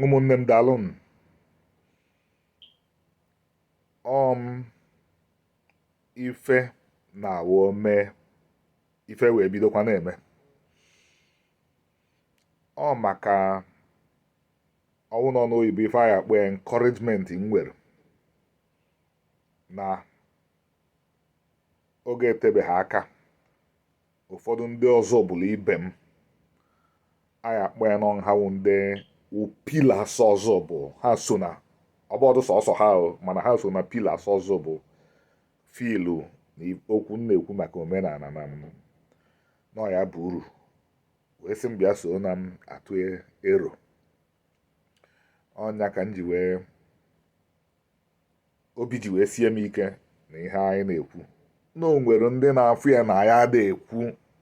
ụmụnne m daalụnụ o m ife na awụ mee ife wee bidokwa na-eme ọ maka ọ wụ n'ọnụ oyibo ife a ya-akpọ ya encouragement m nwere na oge etebeghị aka ụfọdụ ndị ọzụbụlụ ibe m a ya-akpọ ya na ọ ha wụ ndị pillars ọzụbụlụ ha so na ọ bụdụ sọsọ ha mana ha so na pillars ọzụbụlụ fụlụ na okwu m na-ekwu maka omenala na ọ ya-aba uru wee sị m bịa so na m atụ ero ọ nya ka m ji wee obi ji wee sie m ike na ihe anyị na-ekwu na o nwere ndị na-afụ ya na anyị ada ekwu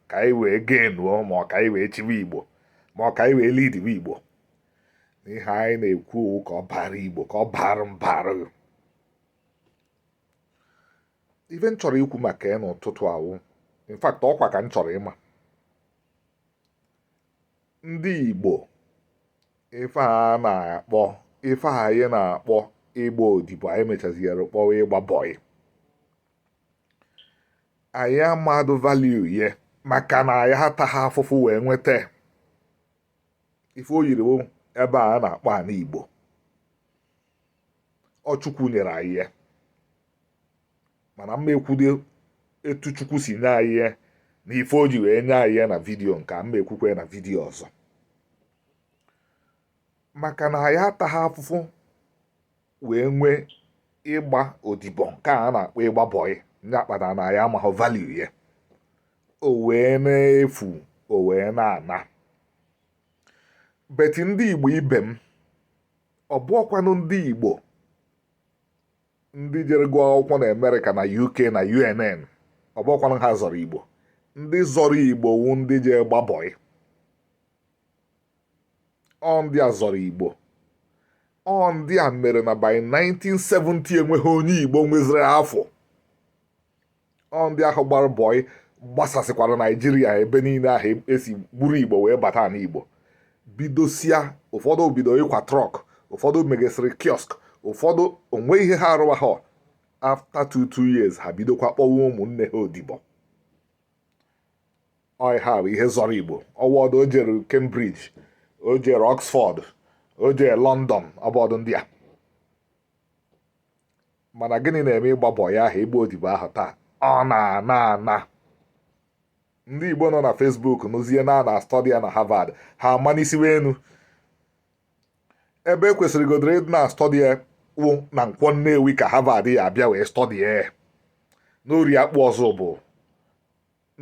ka anyị wee genuo ma ọ ka anyị wee chiwe igbo ma ọ ka anyị wee lidiwe igbo na ihe anyị na-ekwu ọ wụ ka ọ bara igbo ka ọ bara mbara ife m chọrọ ikwu maka ya n'ụtụtụ a wụ in fact ọkwa ka m chọrọ ịma ndị igbo ife a na-akpọ ife a anyị na-akpọ ịgba odibo anyị mechaziere kpọwa ịgba bọị anyị amadụ value ye maka na anyị ataghị afụfụ wee nweta ife o yiri ebe a na-akpọ ana igbo ọ chukwu nyere anyị ya mana m ma ekwudụ etu chukwu si nye anyị ya na ife o ji wee nye anyị ya na vidiyo nke a m ma ekwukwe na vidiyo ọzọ maka na anyị ataghị afụfụ wee nwee ịgba odibo nke a na-akpọ ịgba bọyị ya kpata na anyị amaghị value ya o wee na-efu o wee na-ana but ndị igbo ibe m ọ bụọkwanụ ndị igbo ndị jere gụọ akwụkwọ na amerịka na uk na unn ọ bụọkwanụ ha zọrọ igbo ndị zọrọ igbo wu ndị jee gbaa bọị ọ ndị a zọrọ igbo ọ ndị a mere na by 1970 enweghị onye igbo nweziri afụ ọ ndị ahụ gbara bọị gbasasịkwara naijiria ebe niile ahụ e si gburu igbo wee bata na igbo bidosia ụfọdụ bido ịkwa truck ụfọdụ meghesịrị kiosk ụfọdụ o nwee ihe ha arụwa ha after two two years ha bidokwa kpọwa ụmụnne ha odibo bọị ahụ bụ ihe zọrọ Igbo ọ wọdụ o jere Cambridge o jere Oxford o jere London ọbọdụ ndị a mana gịnị na-eme ịgba bọị ahụ ịgba odibo ahụ taa ọ na-ana ana ndị igbo nọ na Facebook nụzie na a na-study ya na Harvard ha amanisiwe enu ebe e kwesịrị godoro ịdị na-study ya wụ na Nkwọ Nnewi ka Harvard ya abịa wee study ya n'Orie Akpụ Ọzụbụlụ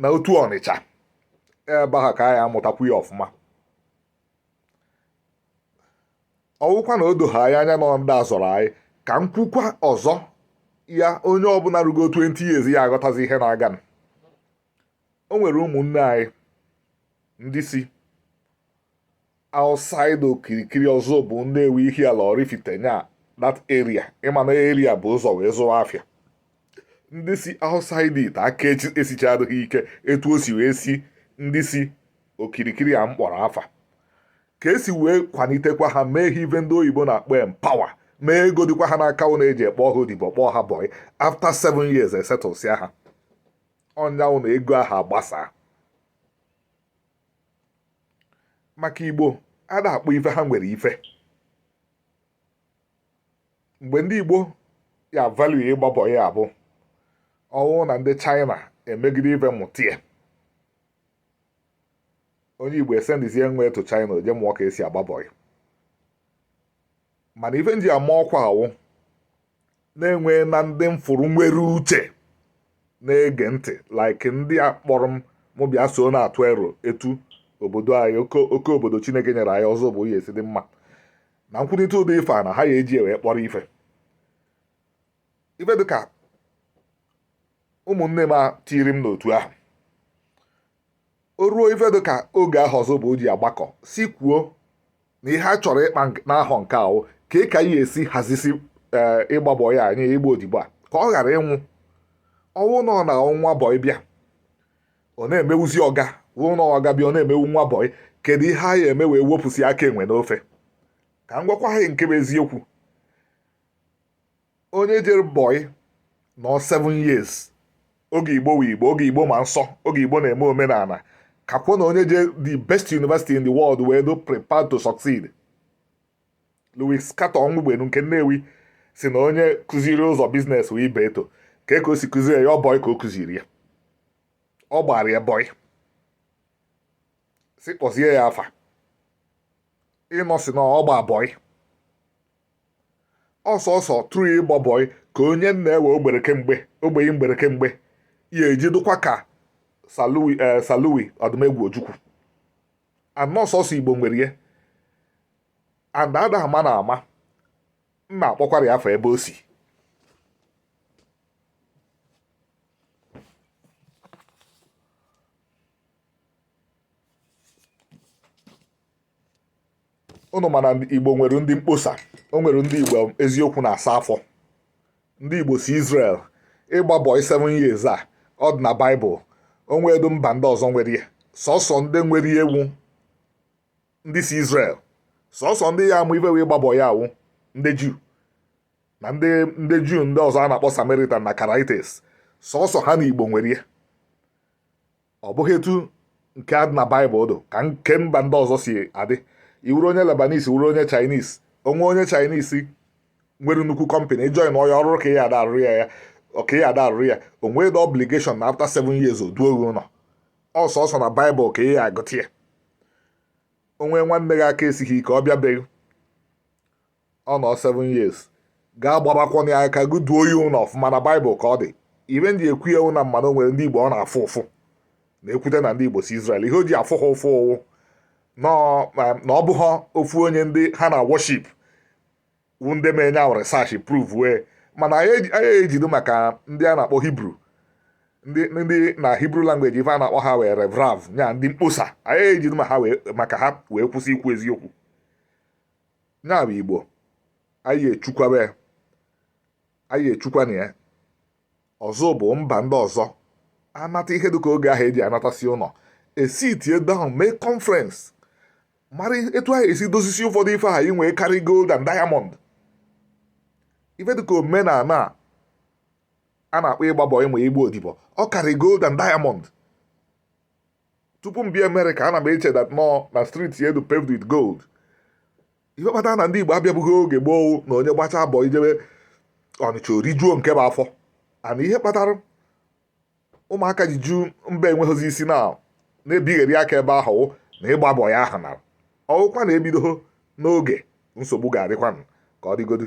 n'Otu Ọnịcha ebe ahụ ka a ya amụtakwu ya ọfụma ọ wụkwa na o doha anyị anya na ọ ndị a zọrọ anyị ka m kwukwa ọzọ ya onye ọbụna rugo 20 years ya aghọtazi ihe na-aga o nwere ụmụnne anyị ndị si outside okirikiri Ọzụbụlụ Nnewi Ihiala Ọraifite nya that area ị ma na area bu ụzọ wee zụwa afịa ndị si outside it aka esichadịghị ike etu o si wee si ndị si okirikiri a m kpọrọ afa ka e si wee kwanitekwa ha mee ha ive ndị oyibo na-akpọ empower mee ego dịkwa ha n'aka ọ na e ji ekpọ ha odibo kpọọ ha bọị after 7 years esetụlsịa ha ọ nya wụ na ego ahụ agbasaa maka Igbo ada akpọ ife ha nwere ife mgbe ndị igbo ya value ịgba bọị a bụ ọ wụ na ndị China emegide ife mụtie onye igbo esendizie nwa ya to China o je mụọ ka e si agba bọị mana ife m ji ama ọkwa a wụ na enwena ndị m fụrụ nwere uche na-ege ntị like ndị a kpọrọ m bịa so na-atụ ero etu obodo anyị oke obodo Chineke nyere anyị Ọzụbụlụ ya esi dị mma na nkwurịta ụdị ife a na ha ya eji wee kpọrọ ife ife dịka ụmụnne m tiri m n'otu ahụ o ruo ife dịka oge ahụ Ọzụbụlụ ji agbakọsị kwuo na ihe a chọrọ ịkpa n'ahọ nke a wụ ka a ka a ya esi hazisi eh, ịgba bọyị anyị ịgba odibo a ka ọ ghara ịnwụ ọnwụ nọ na nwa bọyị bịa ọ na-emewuzi ọga wụ na ọga bịa ọ na-emewu nwa bọyị kedu ihe a ya eme wee wepụsị aka enwe n'ofe ka m gwakwa ha nke bụ eziokwu onye jere bọị nọọ 7 years oge Igbo wụ Igbo oge igbo ma nsọ oge igbo na-eme omenana kakwụ na onye je the best university in the world wee dị prepared to succeed Louis Carter Ọnwụgbenu nke Nnewi sị na onye kụziri ụzọ business wụ Ibeto kee ka o si kụziri ya ọ bọị ka o kụziri ya ọ gbara ya bọị si kpọzie ya afa Innocent ọ gba bọị ọ sọsọ through ịgba bọị ka onye nna ewe ogbere kemgbe ogbeghị mgbere kemgbe ya eji dụkwa ka Sir Louis ee eh, Sir Louis odumegwu ojukwu and ọ sọsọ igbo nwere ya and ada ama na ama nna akpọkwara ya afọ ebe o si ụnụ ma na igbo nwere ndị mkposa o nwere ndị igbo eziokwu na-asa afọ ndị igbo si Israel ịgba bọị 7 years a ọ dị na baịbụl o nwedu mba ndị ọzọ nwere ya sọsọ ndị nwere ya wụ ndị si Israel sọsọ ndị ya-ama ife wụ ịgba bọị a wụ ndị juu na ndị ndị juu ndị ọzọ a na-akpọ samaritan na karaites sọsọ ha na igbo nwere ya ọ bụghị etu nke a dị na baịbụl dụ ka nke mba ndị ọzọ si adị ị wụrụ onye Lebanese wụrụ onye Chinese o nwee onye Chinese nwere nnukwu kọmpanị ị join ya ọrụ ka ya ada arụrụ ya ya ọka ya ada arụrụ ya o nwee the obligation na after seven years o duo gị ụlọ ọ sọsọ na baịbụl ka ị ya-agụta ya o nwee nwanne gị aka esighị ike ọ bịa be gị ọ nọ 7 years gị agbabakwọna ya aka gị duo ya ụlọ ọfụma na baịbụl ka ọ dị ife m ji ekwu ya na m ma na o nwere ndị igbo ọ na-afụ ụfụ na e kwute na ndị igbo si Izrel ihe o ji afụ ha ụfụ wụ na ọ bụghị ofu onye ndị ha na-worship wụ ndị mee nya wụ research prove wee mana anyị ejido maka ndị a na-akpọ hibru ndị na hibru language ife a na-akpọ ha wụ erev rav nya ndị mkposa anyị ejido ma ha maka ha wee kwụsị ikwu eziokwu ya bụ igbo anyị echukwabe anyị echukwana ya ọzọ ọ bụ mba ndị ọzọ anata ihe dịka oge ahụ eji anatasị ụlọ e sitie down mee conference mara etu a ga-esi dozisi ụfọdụ ife anyị nwere karị gold and diamond ife dịka omenala a na-akpọ ịgba bọị ma ịgba odibo ọ karị gold and diamond tupu m bịa Amerịka ana m eche that ụnọ na street ya dụ paved with gold ife kpatara na ndị Igbo abịabụghị oge gboo na onye gbachaa bọị jebe Ọnịcha o rijuo nke bụ afọ and ihe kpatara ụmụaka ji ju mba enweghịzi isi na na-ebigheri aka ebe ahụ wụ na ịgba bọị ahụ nara ọ wụkwa na e bidoghị n'oge nsogbu ga-adịkwanụ ka ọ dịgodu